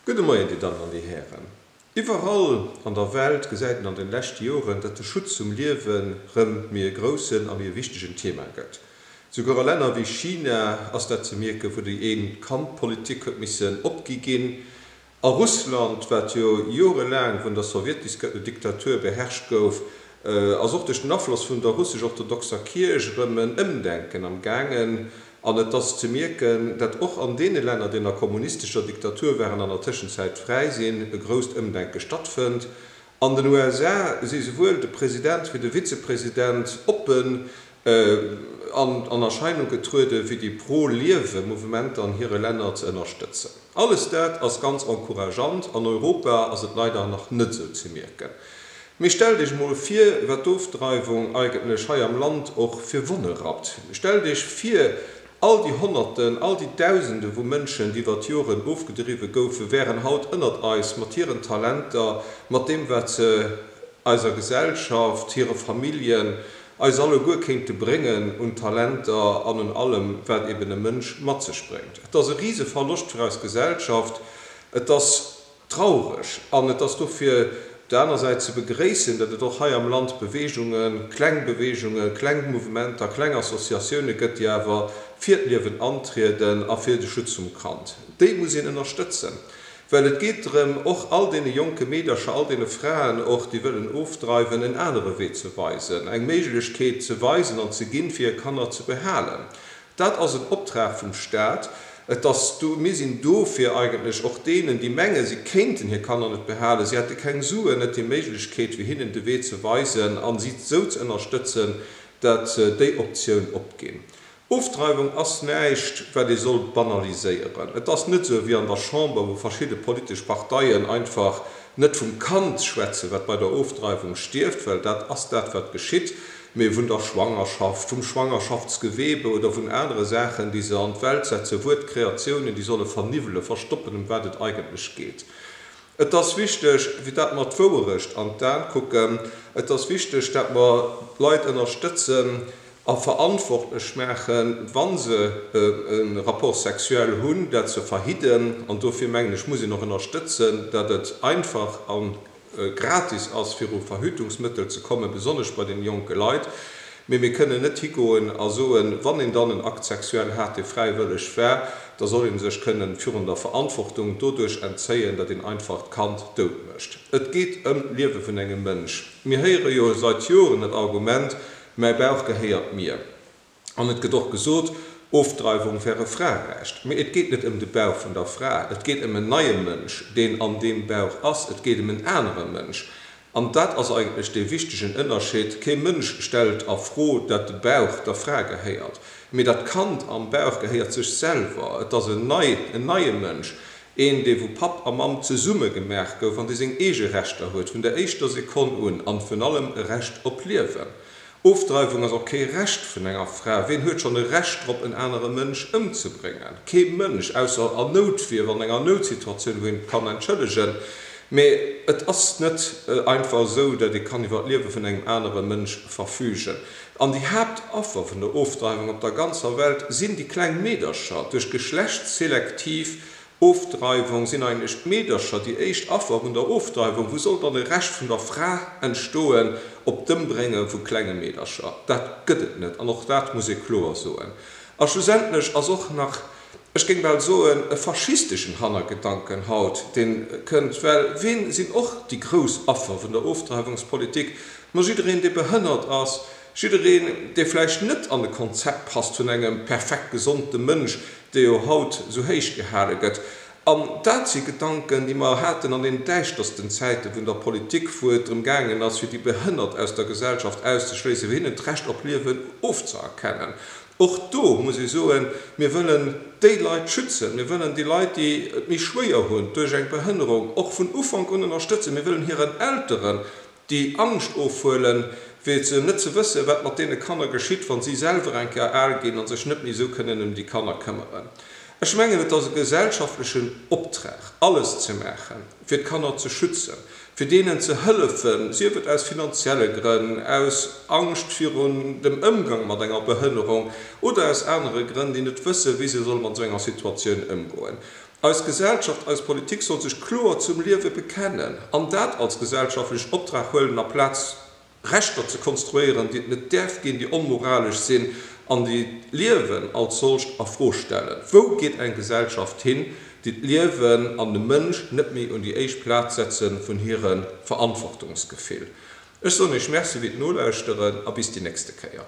Gudde Moien, Dir Dammen an Dir Hären. Iwwerall an der Welt gesäit een an den leschte Joren, datt de Schutz vum Liewen rëm méi e groussen a méi e wichtegen Thema gëtt. Souguer a Länner wéi China ass dat ze mierken, wou déi Een-Kand-Politik huet missen opgi ginn. A Russland, wat jo jorelaang vun der Sowjetdiktatur beherrscht gouf, Ass och duerch den Afloss vun der russesch-orthodoxer Kierch erëm en Ëmdenken am gaangen, an et ass ze mierken, dat och an deene Länner, déi ënner kommunistescher Diktatur waren an der Tëschenzäit fräi sinn, e grousst Ëmdenke stattfënnt. An den USA si souwuel de President wéi de Vizepresident oppen an Erscheinung getrueden, fir déi pro-Liewe Mouvementer an hire Länner ze ënnerstëtzen. Alles dat ass ganz encourageant. An Europa ass et leider nach net esou ze mierken. Mee stellt Iech emol vir, wat d'Ofdreiwung eigentlech hei am Land och fir Wonne rappt. Stellt Iech vir, all déi Honnerten, all déi Dausende vu Mënschen, déi iwwer d'Joren ofgedriwwe goufen, wären haut ënnert eis, mat hiren Talenter, mat deem, wat se eiser Gesellschaft, hire Familljen eis alleguer kéinte bréngen un Talenter an un allem, wat eben e Mënsch mat sech bréngt. Et ass e Riseverloscht fir eis Gesellschaft, et ass traureg an et ass dofir op der aner Säit ze begréissen, datt et och hei am Land Beweegungen, kleng Beweegungen, kleng Mouvementer, kleng Associatioune gëtt, déi awer fir d'Liewen antrieden a fir de Schutz vum Kand. Déi muss een ënnerstëtzen. Well et geet drëm, och all deene jonke Meedercher, all deene Fraen och, déi wëllen ofdreiwen, en anere Wee ze weisen, eng Méiglechkeet ze weisen an ze ginn, fir hir Kanner ze behalen. Dat ass en Optrag vum Stat. Et ass do, mir sinn do fir eigentlech och deenen, déi mengen, si kéinten hir Kanner net behalen, si hätte keng Suen, net déi Méiglechkeet, fir hinnen de Wee ze weisen a si esou ze ënnerstëtzen, datt déi Optioun opginn. Ofdreiwung ass näischt, wat ee soll banaliséieren. Et ass net esou wéi an der Chamber, wou verschidde politesch Parteien einfach net vum Kand schwätzen, wat bei der Ofdreiwung stierft, well dat ass dat, wat geschitt, mee vun der Schwangerschaft, vum Schwangerschaftsgewebe oder vun anere Saachen, déi se an d'Welt setzen, Wuertkreatiounen, déi solle verniwwelen, verstoppen, ëm wat et eigentlech geet. Et ass wichteg, fir dat mer d'Wouerecht an d'An kucken. Et ass wichteg, dat mer d'Leit ënnerstëtzen. a verantwortlech maachen, wa se e Rapport sexuel hunn, dat ze verhidden. An dofir mengen ech, muss een och ënnerstëtzen, datt et einfach a gratis ass, fir u Verhütungsmëttel ze kommen, besonnesch bei den jonke Leit. Mee mir kënnen net higoen a soen, wann een dann en Acte sexuel hat, dee fräiwëlleg war, da soll ee sech kënnen virun der Verantwortung doduerch entzéien, datt een einfach d'Kand dout mécht. Et geet ëm d'Liewe vun engem Mënsch. Mir héiere jo seit Joren dat Argument, Mäi Bauch gehéiert mir. An et gëtt och gesot, Ofdreiwung wär e Fraerecht. Mee et geet net ëm de Bauch vun der Fra. Et geet ëm en neie Mënsch, deen an deem Bauch ass. Et geet ëm en anere Mënsch. An dat ass eigentlech dee wichtegen Ënnerscheed. Kee Mënsch stellt a Fro, datt de Bauch der Fra gehéiert. Mee dat Kand am Bauch gehéiert sech selwer. Et ass en neie Mënsch, Een, dee wou Papp a Mamm zesumme gemaach gouf an dee seng eege Rechter huet, vun der éischter Sekonn un, an vun allem e Recht op Liewen. Ofdreiwung ass och kee Recht vun enger Fra. Ween huet schonn e Recht drop, en anere Mënsch ëmzebréngen? Kee Mënsch, ausser an Noutwier, wann an enger Noutsituatioun, wou een et kann entschëllegen. Mee et ass net einfach esou, datt ee kann iwwer d'Liewe vun engem anere Mënsch verfügen. An déi Haaptaffer vun der Ofdreiwung op der ganzer Welt sinn déi kleng Meedercher. Duerch geschlechtsselektiv Ofdreiwung sinn eigentlech d'Meedercher déi éischt Affer vun der Ofdreiwung. Wou soll dann e Rescht vun der Fra entstoen op d'Ëmbrénge vu klenge Meedercher? Dat gëtt et net an och dat muss ee kloer soen. A schlussendlech ass och nach ech géing bal soen, e faschisteschen Hannergedanken haut, deen kënnt, well ween sinn och déi grouss Affer vun der Ofdreiwungspolitik? Ma jiddereen, dee behënnert ass, jiddereen, dee vläicht net an de Konzept passt vun engem perfekt gesonde Mënsch, dee jo haut sou héich gehale gëtt. An dat si Gedanken, déi mer haten an den däischtersten Zäite vun der Politik, wou et drëm gaangen ass, fir déi Behënnert aus der Gesellschaft auszeschléissen, fir hinnen d'Recht op Liewen ofzëerkennen. Och do muss ee soen, mir wëllen déi Leit schützen, mir wëllen déi Leit, déi et méi schwéier hunn duerch eng Behënnerung, och vun Ufank un ënnerstëtzen. Mir wëllen hiren Elteren déi Angscht ofhuelen, fir ze net ze wëssen, wat mat deene Kanner geschitt, wa si selwer eng Kéier al ginn a sech net méi esou kënnen ëm déi Kanner këmmeren. Ech mengen, et ass e gesellschaftlechen Optrag, alles ze maachen. fir d'Kanner ze schützen, fir deenen ze hëllefen, sief et aus finanzielle Grënn, aus Angscht virun dem Ëmgang mat enger Behënnerung oder aus anere Grënn, déi net wëssen, wéi se solle mat esou enger Situatioun ëmgoen. Eis Gesellschaft, eis Politik soll sech kloer zum Liewe bekennen an dat als gesellschaftlech Optrag huelen a Plaz, Rechter ze konstruéieren, déi et net däerf ginn, déi onmoralesch sinn an déi d'Liewen als solcht a Fro stellen. Wou geet eng Gesellschaft hin, déi d'Liewen an de Mënsch net méi un déi éischt Plaz setze vun hire Verantwortungsgefill? Ech soen Iech Merci fir d'Nolauschteren a bis déi nächste Kéier.